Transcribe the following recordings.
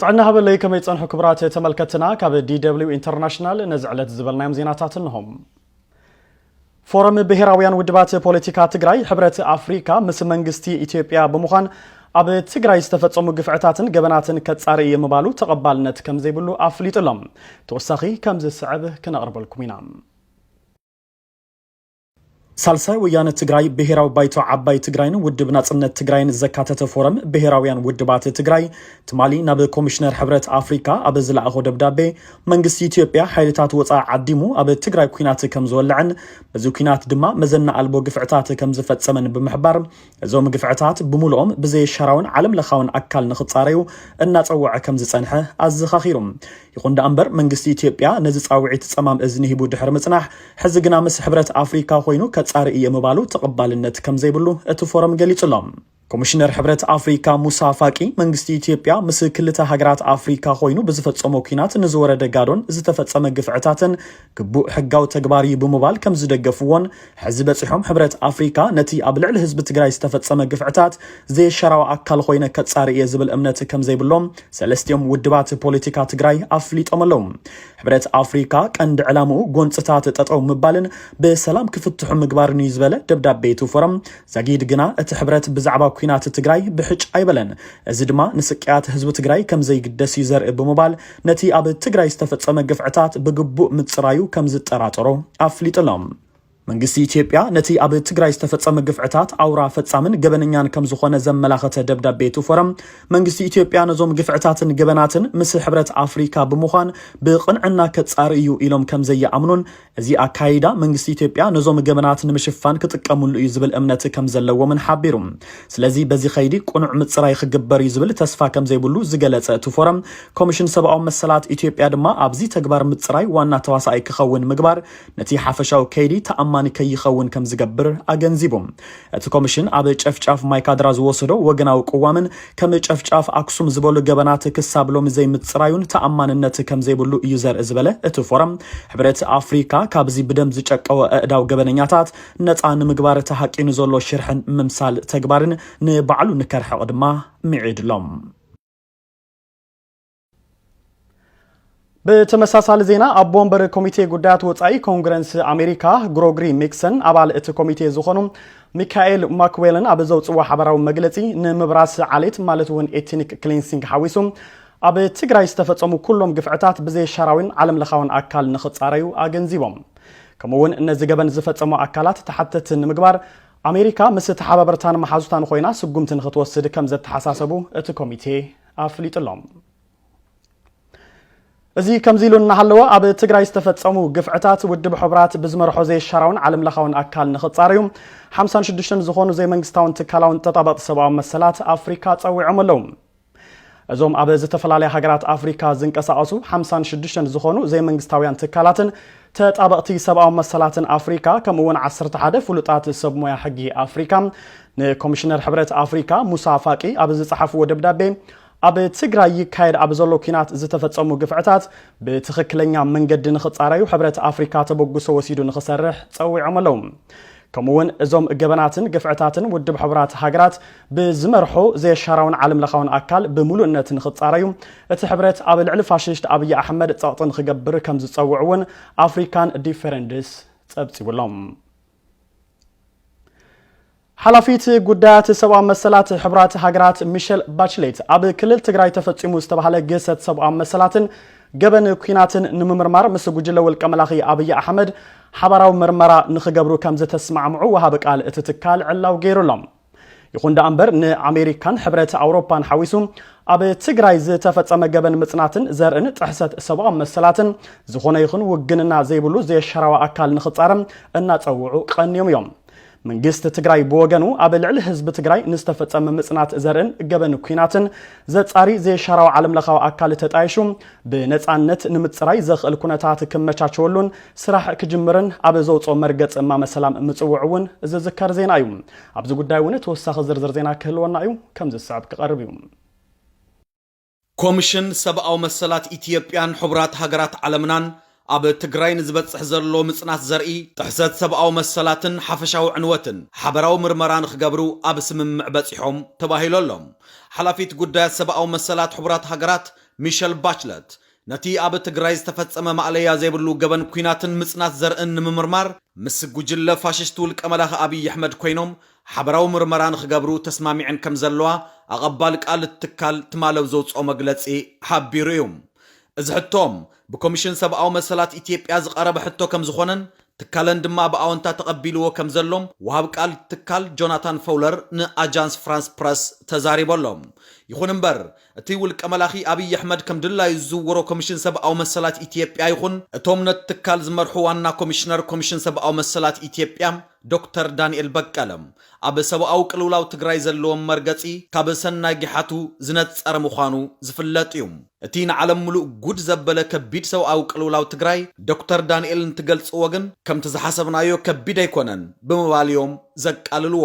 ጥዕና ሃበለይ ከመይ ጸንሑ ክብራት ተመልከትና ካብ ዲደብሊው ኢንተርናሽናል ነዚ ዕለት ዝበልናዮም ዜናታት እንሆም። ፎረም ብሔራውያን ውድባት ፖለቲካ ትግራይ ሕብረት ኣፍሪካ ምስ መንግስቲ ኢትዮጵያ ብምዃን ኣብ ትግራይ ዝተፈጸሙ ግፍዕታትን ገበናትን ከጻሪ እየ ምባሉ ተቐባልነት ከም ዘይብሉ ኣፍሊጡ ኣሎ። ተወሳኺ ከም ዝስዕብ ክነቕርበልኩም ኢና። ሳልሳይ ወያነ ትግራይ ብሄራዊ ባይቶ ዓባይ ትግራይን ውድብ ናፅነት ትግራይን ዘካተተ ፎረም ብሄራውያን ውድባት ትግራይ ትማሊ ናብ ኮሚሽነር ሕብረት ኣፍሪካ ኣብ ዝለኣኾ ደብዳቤ መንግስቲ ኢትዮጵያ ሓይልታት ወፃኢ ዓዲሙ ኣብ ትግራይ ኩናት ከም ዝወልዐን በዚ ኩናት ድማ መዘና ኣልቦ ግፍዕታት ከም ዝፈፀመን ብምሕባር እዞም ግፍዕታት ብምሉኦም ብዘየሻራውን ዓለም ለኻውን ኣካል ንኽፃረዩ እናፀወዐ ከም ዝፀንሐ ኣዘኻኺሩ። ይኹን ደኣ እምበር መንግስቲ ኢትዮጵያ ነዚ ፃውዒት ፀማም እዝኒ ሂቡ ድሕሪ ምፅናሕ ሕዚ ግና ምስ ሕብረት ኣፍሪካ ኮይኑ ከፃሪ እየ ምባሉ ተቐባልነት ከም ዘይብሉ እቲ ፎረም ገሊፁ ኣሎ። ኮሚሽነር ሕብረት ኣፍሪካ ሙሳ ፋቂ መንግስቲ ኢትዮጵያ ምስ ክልተ ሃገራት ኣፍሪካ ኮይኑ ብዝፈፀሞ ኲናት ንዝወረደ ጋዶን ዝተፈፀመ ግፍዕታትን ግቡእ ሕጋዊ ተግባር እዩ ብምባል ከም ዝደገፍዎን ሕዚ በፂሖም ሕብረት ኣፍሪካ ነቲ ኣብ ልዕሊ ህዝቢ ትግራይ ዝተፈፀመ ግፍዕታት ዘየሻራዊ ኣካል ኾይነ ከፃሪ እየ ዝብል እምነት ከም ዘይብሎም ሰለስቲኦም ውድባት ፖለቲካ ትግራይ ኣፍሊጦም ኣለዉ። ሕብረት ኣፍሪካ ቀንዲ ዕላምኡ ጎንፅታት ጠጠው ምባልን ብሰላም ክፍትሑ ምግባርን እዩ ዝበለ ደብዳቤ እቲ ፎረም ዛጊድ ግና እቲ ሕብረት ብዛዕባ ኩናት ትግራይ ብሕጭ ኣይበለን። እዚ ድማ ንስቅያት ህዝቢ ትግራይ ከም ዘይግደስ እዩ ዘርኢ ብምባል ነቲ ኣብ ትግራይ ዝተፈጸመ ግፍዕታት ብግቡእ ምጽራዩ ከም ዝጠራጠሮ ኣፍሊጡ ኣሎ። መንግስቲ ኢትዮጵያ ነቲ ኣብ ትግራይ ዝተፈጸመ ግፍዕታት ኣውራ ፈጻምን ገበነኛን ከም ዝኾነ ዘመላኸተ ደብዳቤ እቲ ፎረም፣ መንግስቲ ኢትዮጵያ ነዞም ግፍዕታትን ገበናትን ምስ ሕብረት ኣፍሪካ ብምዃን ብቕንዕና ከጻሪ እዩ ኢሎም ከም ዘይኣምኑን እዚ ኣካይዳ መንግስቲ ኢትዮጵያ ነዞም ገበናት ንምሽፋን ክጥቀምሉ እዩ ዝብል እምነት ከም ዘለዎምን ሓቢሩ። ስለዚ በዚ ከይዲ ቅኑዕ ምፅራይ ክግበር እዩ ዝብል ተስፋ ከም ዘይብሉ ዝገለፀ እቲ ፎረም፣ ኮሚሽን ሰብኣዊ መሰላት ኢትዮጵያ ድማ ኣብዚ ተግባር ምፅራይ ዋና ተዋሳኣይ ክኸውን ምግባር ነቲ ሓፈሻዊ ከይዲ ተኣማኒ ከይኸውን ከም ዝገብር ኣገንዚቡ። እቲ ኮምሽን ኣብ ጨፍጫፍ ማይ ካድራ ዝወሰዶ ወገናዊ ቅዋምን ከም ጨፍጫፍ ኣክሱም ዝበሉ ገበናት ክሳብ ሎሚ ዘይምፅራዩን ተኣማንነት ከምዘይብሉ እዩ ዘርኢ ዝበለ እቲ ፎረም ሕብረት ኣፍሪካ ካብዚ ብደም ዝጨቀወ ኣእዳው ገበነኛታት ነፃ ንምግባር ተሃቂኑ ዘሎ ሽርሕን ምምሳል ተግባርን ንባዕሉ ንከርሕቕ ድማ ምዒድሎም። ብተመሳሳሊ ዜና ኣቦ ወንበር ኮሚቴ ጉዳያት ወፃኢ ኮንግረንስ ኣሜሪካ ግሮግሪ ሚክሰን ኣባል እቲ ኮሚቴ ዝኾኑ ሚካኤል ማክዌልን ኣብ ዘውፅዎ ሓበራዊ መግለፂ ንምብራስ ዓሌት ማለት እውን ኤትኒክ ክሊንሲንግ ሓዊሱ ኣብ ትግራይ ዝተፈፀሙ ኩሎም ግፍዕታት ብዘይሻራዊን ዓለም ለኻዊን ኣካል ንኽፃረዩ ኣገንዚቦም ከምኡውን ነዚ ገበን ዝፈፀሙ ኣካላት ተሓተቲ ንምግባር ኣሜሪካ ምስ ተሓባበርታን መሓዙታን ኮይና ስጉምቲ ንክትወስድ ከም ዘተሓሳሰቡ እቲ ኮሚቴ ኣፍሊጡ ኣሎ። እዚ ከምዚ ኢሉ እናሃለወ ኣብ ትግራይ ዝተፈፀሙ ግፍዕታት ውድብ ሕቡራት ብዝመርሖ ዘይሻራውን ዓለም ለኻውን ኣካል ንኽፃረዩ 56 ዝኾኑ ዘይመንግስታውን ትካላውን ተጣበቕቲ ሰብኣዊ መሰላት ኣፍሪካ ፀዊዖም ኣለዉ። እዞም ኣብ ዝተፈላለያ ሃገራት ኣፍሪካ ዝንቀሳቐሱ 56 ዝኾኑ ዘይመንግስታውያን ትካላትን ተጣበቕቲ ሰብኣዊ መሰላትን ኣፍሪካ ከምኡውን 11 ፍሉጣት ሰብ ሞያ ሕጊ ኣፍሪካ ንኮሚሽነር ሕብረት ኣፍሪካ ሙሳ ፋቂ ኣብ ዝፀሓፍዎ ደብዳቤ ኣብ ትግራይ ይካየድ ኣብ ዘሎ ኩናት ዝተፈፀሙ ግፍዕታት ብትኽክለኛ መንገዲ ንኽፃረዩ ሕብረት ኣፍሪካ ተበግሶ ወሲዱ ንኽሰርሕ ፀዊዖም ኣለዉ። ከምኡውን እዞም ገበናትን ግፍዕታትን ውድብ ሕቡራት ሃገራት ብዝመርሖ ዘየሻራውን ዓለም ለኻውን ኣካል ብምሉእነት ንኽፃረዩ እቲ ሕብረት ኣብ ልዕሊ ፋሽስት ኣብዪ ኣሕመድ ፀቕጢ ንኽገብር ከም ዝፀውዑ እውን ኣፍሪካን ዲፌረንድስ ፀብፂቡሎም። ሓላፊት ጉዳያት ሰብኣዊ መሰላት ሕብራት ሃገራት ሚሸል ባችሌት ኣብ ክልል ትግራይ ተፈፂሙ ዝተባሃለ ግህሰት ሰብኣዊ መሰላትን ገበን ኩናትን ንምምርማር ምስ ጉጅለ ውልቀ መላኺ ኣብዪ ኣሕመድ ሓባራዊ ምርመራ ንክገብሩ ከም ዝተስማዕምዑ ወሃቢ ቃል እቲ ትካል ዕላው ገይሩ ኣሎ። ይኹን ደኣ እምበር ንኣሜሪካን ሕብረት ኣውሮፓን ሓዊሱ ኣብ ትግራይ ዝተፈጸመ ገበን ምጽናትን ዘርእን ጥሕሰት ሰብኣዊ መሰላትን ዝኾነ ይኹን ውግንና ዘይብሉ ዘየሻራዊ ኣካል ንኽጻረም እናጸውዑ ቀንዮም እዮም መንግስቲ ትግራይ ብወገኑ ኣብ ልዕሊ ህዝቢ ትግራይ ንዝተፈጸመ ምጽናት ዘርእን ገበን ኩናትን ዘጻሪ ዘየሻራዊ ዓለምለኻዊ ኣካል ተጣይሹ ብነፃነት ንምፅራይ ዘኽእል ኩነታት ክመቻቸወሉን ስራሕ ክጅምርን ኣብ ዘውፅኦ መርገፂ እማመ ሰላም ምፅውዑ እውን ዝዝከር ዜና እዩ ኣብዚ ጉዳይ እውን ተወሳኺ ዝርዝር ዜና ክህልወና እዩ፣ ከምዚ ዝስዕብ ክቐርብ እዩ። ኮምሽን ሰብኣዊ መሰላት ኢትዮጵያን ሕቡራት ሃገራት ዓለምናን ኣብ ትግራይ ንዝበፅሕ ዘሎ ምፅናት ዘርኢ ጥሕሰት ሰብኣዊ መሰላትን ሓፈሻዊ ዕንወትን ሓበራዊ ምርመራ ንክገብሩ ኣብ ስምምዕ በፂሖም ተባሂሉ ኣሎ። ሓላፊት ጉዳያት ሰብኣዊ መሰላት ሕቡራት ሃገራት ሚሸል ባችለት ነቲ ኣብ ትግራይ ዝተፈጸመ ማእለያ ዘይብሉ ገበን ኲናትን ምጽናት ዘርእን ንምምርማር ምስ ጉጅለ ፋሽስት ውልቀ መላኺ ኣብይ ኣሕመድ ኮይኖም ሓበራዊ ምርመራ ንኽገብሩ ተስማሚዐን ከምዘለዋ ኣቐባሊ ቃል እቲ ትካል ትማሊ ኣብ ዘውጽኦ መግለጺ ሓቢሩ እዩ። እዚ ሕቶ ብኮሚሽን ሰብኣዊ መሰላት ኢትዮጵያ ዝቐረበ ሕቶ ከምዝኾነን ትካለን ድማ ብኣወንታ ተቐቢልዎ ከምዘሎ ወሃብ ቃል እቲ ትካል ጆናታን ፈውለር ንኣጃንስ ፍራንስ ፕረስ ተዛሪቡ ኣሎ። ይኹን እምበር እቲ ውልቀ መላኺ ኣብይ ኣሕመድ ከም ድላዩ ዝዝውሮ ኮሚሽን ሰብኣዊ መሰላት ኢትዮጵያ ይኹን እቶም ነቲ ትካል ዝመርሑ ዋና ኮሚሽነር ኮሚሽን ሰብኣዊ መሰላት ኢትዮጵያ ዶክተር ዳንኤል በቀለ ኣብ ሰብኣዊ ቅልውላው ትግራይ ዘለዎም መርገፂ ካብ ሰናይ ጊሓቱ ዝነፀረ ምዃኑ ዝፍለጥ እዩ። እቲ ንዓለም ሙሉእ ጉድ ዘበለ ከቢድ ሰብኣዊ ቅልውላው ትግራይ ዶክተር ዳንኤል እንትገልፅዎ ግን ከምቲ ዝሓሰብናዮ ከቢድ ኣይኮነን ብምባል እዮም ዘቃልልዎ።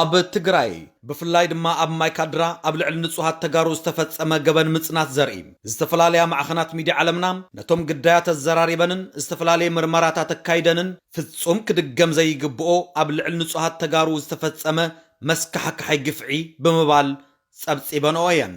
ኣብ ትግራይ ብፍላይ ድማ ኣብ ማይካድራ ኣብ ልዕሊ ንፁሃት ተጋሩ ዝተፈፀመ ገበን ምፅናት ዘርኢ ዝተፈላለያ ማዕኸናት ሚድያ ዓለምና ነቶም ግዳያት ኣዘራሪበንን ዝተፈላለየ ምርመራታት ኣካይደንን ፍፁም ክድገም ዘይግብኦ ኣብ ልዕሊ ንፁሃት ተጋሩ ዝተፈፀመ መስካሕክሓይ ግፍዒ ብምባል ፀብፂበንኦ እየን።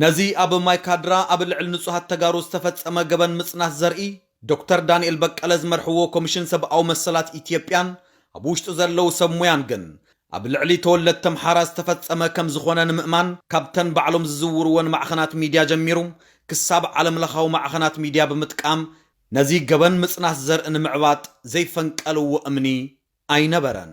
ነዚ ኣብ ማይ ካድራ ኣብ ልዕሊ ንፁሃት ተጋሩ ዝተፈፀመ ገበን ምፅናት ዘርኢ ዶክተር ዳንኤል በቀለ ዝመርሕዎ ኮሚሽን ሰብኣዊ መሰላት ኢትዮጵያን ኣብ ውሽጡ ዘለዉ ሰብ ሙያን ግን ኣብ ልዕሊ ተወለድቲ ኣምሓራ ዝተፈፀመ ከምዝኾነ ንምእማን ካብተን ባዕሎም ዝዝውርወን ማዕኸናት ሚድያ ጀሚሩ ክሳብ ዓለም ለኻዊ ማዕኸናት ሚድያ ብምጥቃም ነዚ ገበን ምፅናት ዘርኢ ንምዕባጥ ዘይፈንቀልዎ እምኒ ኣይነበረን።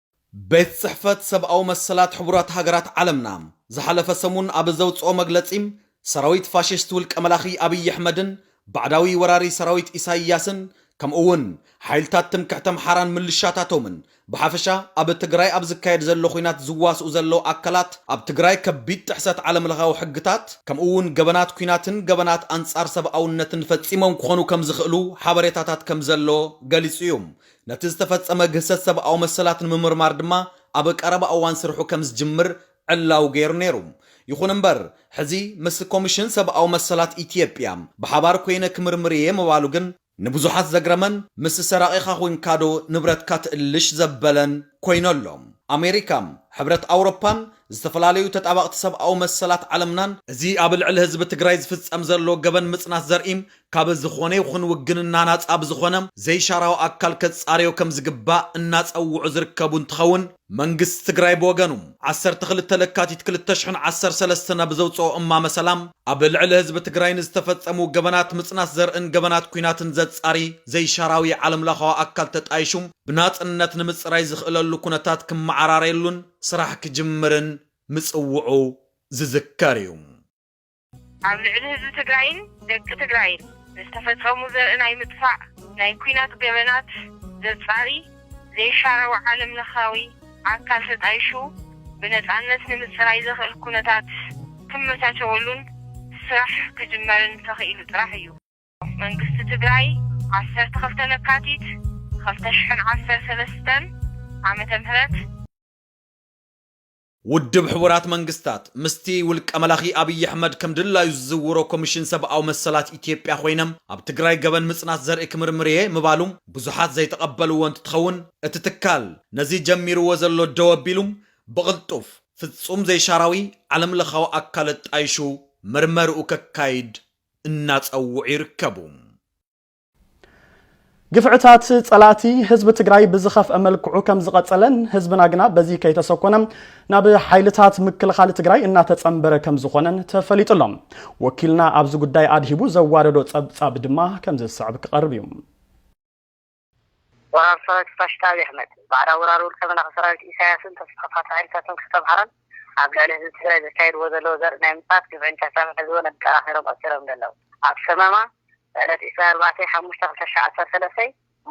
ቤት ጽሕፈት ሰብኣዊ መሰላት ሕቡራት ሃገራት ዓለምና ዝሓለፈ ሰሙን ኣብ ዘውጽኦ መግለጺ፣ ሰራዊት ፋሽስት ውልቀ መላኺ ኣብይ ኣሕመድን ባዕዳዊ ወራሪ ሰራዊት ኢሳይያስን ከምኡ'ውን ሓይልታት ትምክሕቲ ኣምሓራን ምልሻታቶምን ብሓፈሻ ኣብ ትግራይ ኣብ ዝካየድ ዘሎ ኲናት ዝዋስኡ ዘለዉ ኣካላት ኣብ ትግራይ ከቢድ ጥሕሰት ዓለምለኻዊ ሕግታት ከምኡ'ውን ገበናት ኲናትን ገበናት ኣንጻር ሰብኣውነትን ፈጺሞም ክኾኑ ከምዝኽእሉ ሓበሬታታት ከምዘሎ ገሊጹ እዩ። ነቲ ዝተፈጸመ ግህሰት ሰብኣዊ መሰላት ንምምርማር ድማ ኣብ ቀረባ እዋን ስርሑ ከም ዝጅምር ዕላዊ ገይሩ ነይሩ። ይኹን እምበር፣ ሕዚ ምስ ኮሚሽን ሰብኣዊ መሰላት ኢትዮጵያ ብሓባር ኮይነ ክምርምር እየ ምባሉ ግን፣ ንብዙሓት ዘግረመን ምስ ሰራቒኻ ኮይንካዶ ንብረትካ ትእልሽ ዘበለን ኮይኑ ኣሎ። ኣሜሪካ፣ ሕብረት ኣውሮፓን ዝተፈላለዩ ተጣበቕቲ ሰብኣዊ መሰላት ዓለምናን፣ እዚ ኣብ ልዕሊ ህዝቢ ትግራይ ዝፍፀም ዘሎ ገበን ምፅናት ዘርኢ ካብ ዝኾነ ይኹን ውግንና ናፃ ብዝኾነ ዘይሻራዊ ኣካል ከፃርዮ ከምዝግባእ እናፀውዑ ዝርከቡ እንትኸውን፣ መንግስቲ ትግራይ ብወገኑ ዓሰርተ ክልተ ለካቲት ክልተ ሽሕን ዓሰርተ ሰለስተን ኣብ ዘውፀኦ እማመ ሰላም ኣብ ልዕሊ ህዝቢ ትግራይ ንዝተፈፀሙ ገበናት ምፅናት ዘርእን ገበናት ኲናትን ዘፃሪ ዘይሻራዊ ዓለምላኻዊ ኣካል ተጣይሹ ብናፅነት ንምፅራይ ዝኽእለሉ ኩነታት ክመዓራረየሉን ስራሕ ክጅምርን ምፅውዑ ዝዝከር እዩ። ኣብ ልዕሊ ህዝቢ ትግራይን ደቂ ትግራይን ዝተፈፀሙ ዘርኢ ናይ ምጥፋእ ናይ ኲናት ገበናት ዘፃሪ ዘይሻራዊ ዓለም ለኻዊ ኣካል ተጣይሹ ብነፃነት ንምፅራይ ዘኽእል ኩነታት ክመቻቸወሉን ስራሕ ክጅመርን ተኽኢሉ ጥራሕ እዩ። መንግስቲ ትግራይ ዓሰርተ ክልተ ለካቲት ክልተ ሽሕን ዓሰርተ ሰለስተን ዓመተ ምህረት፣ ውድብ ሕቡራት መንግስታት ምስቲ ውልቀ መላኺ ኣብይ ኣሕመድ ከም ድላዩ ዝዝውሮ ኮሚሽን ሰብኣዊ መሰላት ኢትዮጵያ ኮይነም ኣብ ትግራይ ገበን ምፅናት ዘርኢ ክምርምር እየ ምባሉ ብዙሓት ዘይተቐበልዎ እንትትኸውን እቲ ትካል ነዚ ጀሚርዎ ዘሎ ደው ኣቢሉ ብቕልጡፍ ፍፁም ዘይሻራዊ ዓለም ለኻዊ ኣካል ኣጣይሹ ምርመርኡ ከካይድ እናፀውዑ ይርከቡ። ግፍዕታት ፀላእቲ ህዝቢ ትግራይ ብዝኸፍአ መልክዑ ከምዝቐፀለን ህዝብና ግና በዚ ከይተሰኮነ ናብ ሓይልታት ምክልኻል ትግራይ እናተፀምበረ ከምዝኾነን ተፈሊጡ ኣሎ። ወኪልና ኣብዚ ጉዳይ ኣድሂቡ ዘዋደዶ ፀብፃብ ድማ ከምዝስዕብ ክቐርብ እዩ። ወራር ሰራዊት ፋሽስት ኣብይ ኣሕመድ፣ ባዕዳዊ ወራሪ ውልቀ መላኺ ሰራዊት ኢሳያስን ተስፋፋቲ ሓይልታቱን ክልተ ኣምሓራን፣ ኣብ ልዕሊ ህዝቢ ትግራይ ዘካይድዎ ዘለዉ ዘርኢ ናይ ምጽናት ግፍዒን ጨፍጫፍን ሕዚ እውን ኣጠናኺሮም ቀጺሎምሉ ኣለዉ። ኣብ ሰመማ፣ ዕለት ዕስራን ኣርባዕተን ሓሙሽተ ክልተ ሽሕ ዓሰርተ ሰለስተ፣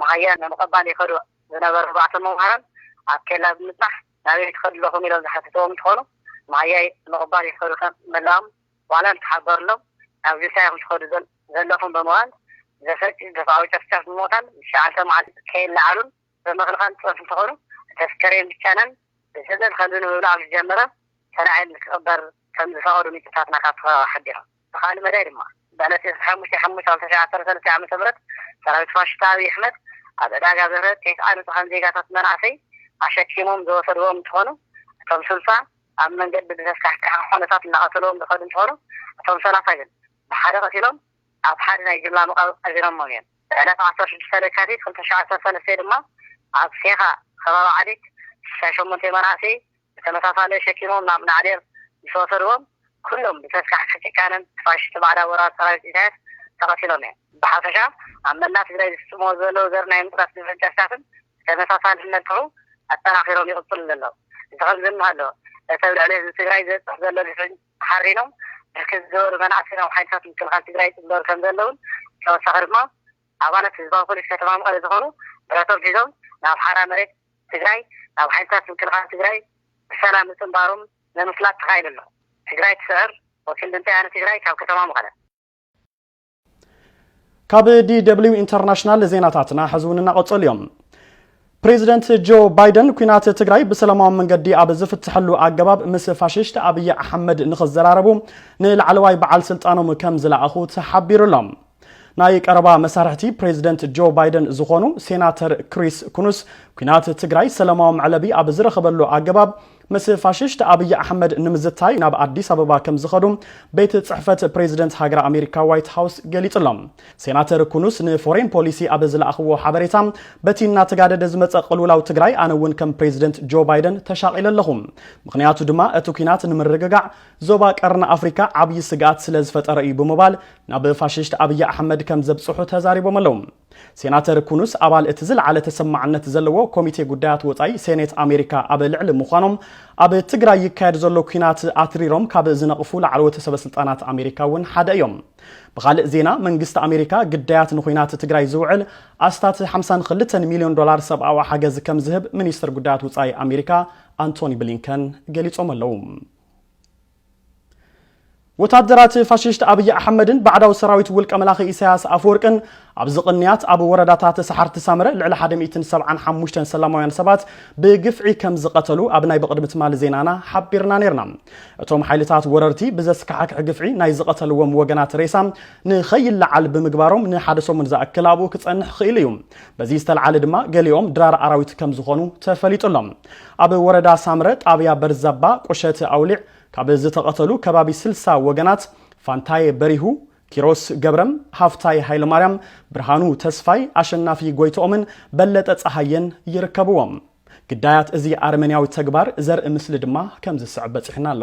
መሃያ ንምቕባል ይኸዱ ዝነበሩ ኣርባዕተ መምሃራን ኣብ ኬላ ብምጽናሕ ናበይ ትኸዱ ኣለኹም ኢሎም ዝሓተትዎም እንትኾኑ፣ መሃያ ንምቕባል ይኸዱ ከም ምህላዎም፣ ዋላ እንተሓበርሎም ናብዚ ሳይኹም ትኸዱ ዘለኹም ብምባል ዘሰቅቕ ግፍዓዊ ጨፍጫፍ ብምቕታል ንትሽዓተ መዓልቲ ከይለዓሉን ብምኽልካል ዝጸንሑ እንትኾኑ እቲ ኣስከሬን ብቻይናን ብስደት ከምዚ ንምብላዕ ምስ ጀመረ ተላዒሉ ክቕበር ከምዝፈቐዱ ምንጭታትና ካብቲ ከባቢ ሓቢሮም። ብኻልእ መዳይ ድማ ብዕለት ዕስራን ሓሙሽተን ሓሙሽተ ክልተ ሽሕ ዓሰርተ ሰለስተ ዓመተ ምህረት ሰራዊት ፋሽስት ኣብይ ኣሕመድ ኣብ ዕዳጋ ዘተ ቴስዓ ንጹሃን ዜጋታት መናእሰይ ኣሸኪሞም ዝወሰድዎም እንትኾኑ እቶም ስልሳ ኣብ መንገዲ ብዘስካሕክሕ ኹነታት እናቐተልዎም ዝኸዱ እንትኾኑ፣ እቶም ሰላሳ ግን ብሓደ ቀቲሎም ኣብ ሓደ ናይ ጅምላ መቓብር ቀቢሮሞም እዮም። ዕለት ዓሰርተ ሽዱሽተ ለካቲት ክልተ ሽሕ ዓሰርተ ሰለስተ ድማ ኣብ ሴኻ ኸባቢ ዓዲት ስሳ ሸሞንተ መናእሰይ ብተመሳሳሊ ኣሸኪሞም ናብ ናዕዴር ምስ ወሰድዎም ኩሎም ብዘስካሕክሕ ጭካነን ብፋሽስቲ ባዕዳዊ ወራሪ ሰራዊት ኢሳያስ ተቐቲሎም እዮም። ብሓፈሻ ኣብ መላእ ትግራይ ዝፍፅምዎ ዘለዉ ዘር ናይ ምፅራፍ ግፍዕን ጨፍጫፍን፣ ተመሳሳልነቱ ኣጠናኺሮም ይቕፅሉ ዘለዉ። እዚ ከምዚ እናሃሎ እቲ ኣብ ልዕሊ ህዝቢ ትግራይ ዝበፅሕ ዘሎ ግፍዒ ተሓሪኖም ብርክት ዝበሉ መናእሰይ ናብ ሓይልታት ምክልኻል ትግራይ ይፅምበሩ ከምዘለዉን ብተወሳኺ ድማ ኣባላት ህዝባዊ ፖሊስ ከተማ መቐለ ዝኾኑ ብረቶም ሒዞም ናብ ሓራ መሬት ትግራይ ናብ ሓይልታት ምክልኻል ትግራይ ብሰላም ምፅምባሮም ንምፍላጥ ተኻኢሉ ኣሎ። ትግራይ ትስዕር ወኪል ድምፂ ወያነ ትግራይ ካብ ከተማ መቐለ። ካብ ዲደብሊው ኢንተርናሽናል ዜናታትና ሕዚ እውን እናቐጸሉ እዮም ፕሬዚደንት ጆ ባይደን ኩናት ትግራይ ብሰላማዊ መንገዲ ኣብ ዝፍትሐሉ ኣገባብ ምስ ፋሽስት ኣብዪ ኣሕመድ ንኽዘራረቡ ንላዕለዋይ በዓል ስልጣኖም ከም ዝለኣኹ ተሓቢሩ ኣሎ ናይ ቀረባ መሳርሕቲ ፕሬዚደንት ጆ ባይደን ዝኾኑ ሴናተር ክሪስ ኩኑስ ኩናት ትግራይ ሰላማዊ መዕለቢ ኣብ ዝረኸበሉ ኣገባብ ምስ ፋሽስት ኣብይ ኣሕመድ ንምዝታይ ናብ ኣዲስ ኣበባ ከምዝኸዱ ቤት ፅሕፈት ፕሬዚደንት ሃገረ ኣሜሪካ ዋይት ሃውስ ገሊፁ ኣሎ። ሴናተር ኩኑስ ንፎሬን ፖሊሲ ኣብ ዝለኣኽዎ ሓበሬታ በቲ እናተጋደደ ዝመፀ ቅልውላው ትግራይ ኣነ እውን ከም ፕሬዚደንት ጆ ባይደን ተሻቒለ ኣለኹ። ምኽንያቱ ድማ እቲ ኲናት ንምርግጋዕ ዞባ ቀርኒ ኣፍሪካ ዓብዪ ስግኣት ስለዝፈጠረ እዩ ብምባል ናብ ፋሽስት ኣብይ ኣሕመድ ከምዘብፅሑ ተዛሪቦም ኣለው። ሴናተር ኩኑስ ኣባል እቲ ዝለዓለ ተሰማዕነት ዘለዎ ኮሚቴ ጉዳያት ወፃኢ ሴኔት ኣሜሪካ ኣብ ልዕሊ ምዃኖም ኣብ ትግራይ ይካየድ ዘሎ ኲናት ኣትሪሮም ካብ ዝነቕፉ ላዕለዎት ሰበስልጣናት ኣሜሪካ እውን ሓደ እዮም። ብኻልእ ዜና መንግስቲ ኣሜሪካ ግዳያት ንኹናት ትግራይ ዝውዕል ኣስታት 52 ሚሊዮን ዶላር ሰብኣዊ ሓገዝ ከም ዝህብ ሚኒስትር ጉዳያት ውፃኢ ኣሜሪካ ኣንቶኒ ብሊንከን ገሊፆም ኣለዉ። ወታደራት ፋሽስት ኣብይ ኣሕመድን ባዕዳዊ ሰራዊት ውልቀ መላኺ ኢሳያስ ኣፈወርቅን ኣብዚ ቅንያት ኣብ ወረዳታት ሰሓርቲ ሳምረ ልዕሊ 175 ሰላማውያን ሰባት ብግፍዒ ከም ዝቐተሉ ኣብ ናይ ብቕድሚ ትማሊ ዜናና ሓቢርና ነርና እቶም ሓይልታት ወረርቲ ብዘስካሕክሕ ግፍዒ ናይ ዝቐተልዎም ወገናት ሬሳ ንኸይለዓል ብምግባሮም ንሓደ ሰሙን ዝኣክል ኣብኡ ክጸንሕ ክኢሉ እዩ በዚ ዝተልዓለ ድማ ገሊኦም ድራር ኣራዊት ከም ዝኾኑ ተፈሊጡ ኣሎ። ኣብ ወረዳ ሳምረ ጣብያ በርዛባ ቁሸት ኣውሊዕ ካብ ዝተቐተሉ ከባቢ ስልሳ ወገናት ፋንታየ በሪሁ፣ ኪሮስ ገብረም፣ ሃፍታይ ሃይለማርያም፣ ብርሃኑ ተስፋይ፣ ኣሸናፊ ጎይትኦምን በለጠ ፀሃየን ይርከብዎም። ግዳያት እዚ ኣረመኔያዊ ተግባር ዘርኢ ምስሊ ድማ ከም ዝስዕብ በፂሑና ኣሎ።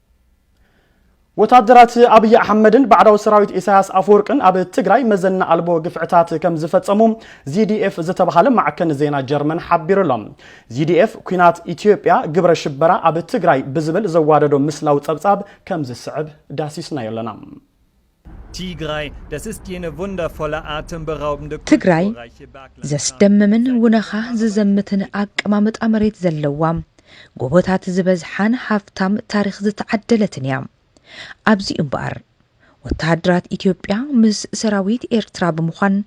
ወታደራት ኣብይ ኣሕመድን ባዕዳዊ ሰራዊት ኢሳያስ ኣፈወርቅን ኣብ ትግራይ መዘና ኣልቦ ግፍዕታት ከም ዝፈጸሙ ዚዲኤፍ ዝተባሃለ ማዕከን ዜና ጀርመን ሓቢሩ ኣሎ። ዚዲኤፍ ኩናት ኢትዮጵያ ግብረ ሽበራ ኣብ ትግራይ ብዝብል ዘዋደዶ ምስላዊ ጸብጻብ ከም ዝስዕብ ዳሲስናዮ ኣለና። ትግራይ ዘስደምምን ውነኻ ዝዘምትን ኣቀማምጣ መሬት ዘለዋ፣ ጎቦታት ዝበዝሓን ሃፍታም ታሪኽ ዝተዓደለትን እያ። ኣብዚ'ዩ እምበኣር፣ ወተሃደራት ኢትዮጵያ ምስ ሰራዊት ኤርትራ ብምዃን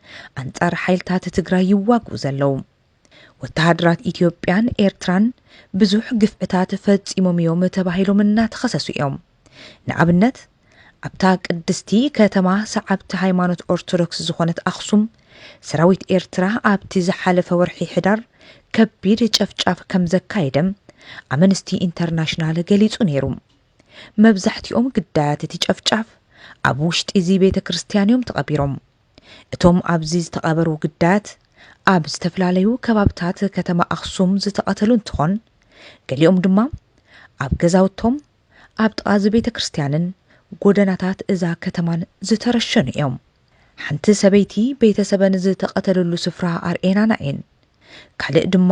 ኣንጻር ሓይልታት ትግራይ ይዋግኡ ዘለዉ። ወተሃደራት ኢትዮጵያን ኤርትራን ብዙሕ ግፍዕታት ፈጺሞም እዮም ተባሂሎም እናተኸሰሱ እዮም። ንኣብነት ኣብታ ቅድስቲ ከተማ ሰዓብቲ ሃይማኖት ኦርቶዶክስ ዝኾነት ኣኽሱም ሰራዊት ኤርትራ ኣብቲ ዝሓለፈ ወርሒ ሕዳር ከቢድ ጨፍጫፍ ከም ዘካየደ ኣመንስቲ ኢንተርናሽናል ገሊጹ ነይሩ። መብዛሕትኦም ግዳያት እቲ ጨፍጫፍ ኣብ ውሽጢ እዚ ቤተ ክርስቲያን እዮም ተቐቢሮም። እቶም ኣብዚ ዝተቐበሩ ግዳያት ኣብ ዝተፈላለዩ ከባብታት ከተማ ኣኽሱም ዝተቐተሉ እንትኾን ገሊኦም ድማ ኣብ ገዛውቶም ኣብ ጥቓ እዚ ቤተ ክርስቲያንን ጎደናታት እዛ ከተማን ዝተረሸኑ እዮም። ሓንቲ ሰበይቲ ቤተሰበን ዝተቐተልሉ ስፍራ ኣርእየናና እየን። ካልእ ድማ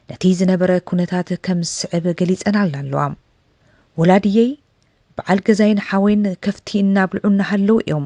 ነቲ ዝነበረ ኩነታት ከም ዝስዕብ ገሊጸናልና ኣለዋ። ወላድየይ፣ በዓል ገዛይን ሓወይን ከፍቲ እናብልዑ እናሃለዉ እዮም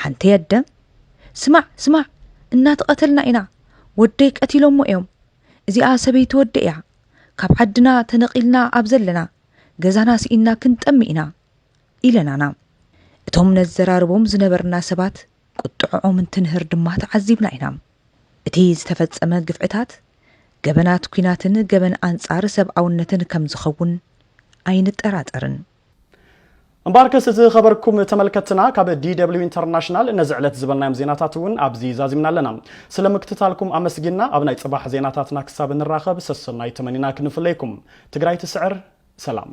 ሓንቲ ኣደ ስማዕ ስማዕ እናተቐተልና ኢና ወደይ ቀቲሎሞ እዮም እዚኣ ሰበይቲ ወዲ እያ ካብ ዓድና ተነቒልና ኣብ ዘለና ገዛና ስኢንና ክንጠሚ ኢና ኢለናና እቶም ነዘራርቦም ዝነበርና ሰባት ቁጥዕኦም እንትንህር ድማ ተዓዚብና ኢና እቲ ዝተፈጸመ ግፍዕታት ገበናት ኲናትን ገበን ኣንጻር ሰብኣውነትን ከምዝኸውን ኣይንጠራጠርን። እምበኣርከስ ዝኸበርኩም ተመልከትና ካብ ዲደብሊው ኢንተርናሽናል ነዚ ዕለት ዝበልናዮም ዜናታት እውን ኣብዚ ዛዚምና ኣለና ስለ ምክትታልኩም ኣመስጊና ኣብ ናይ ፅባሕ ዜናታትና ክሳብ ንራኸብ ሰሰናይ ተመኒና ክንፍለይኩም ትግራይ ትስዕር ሰላም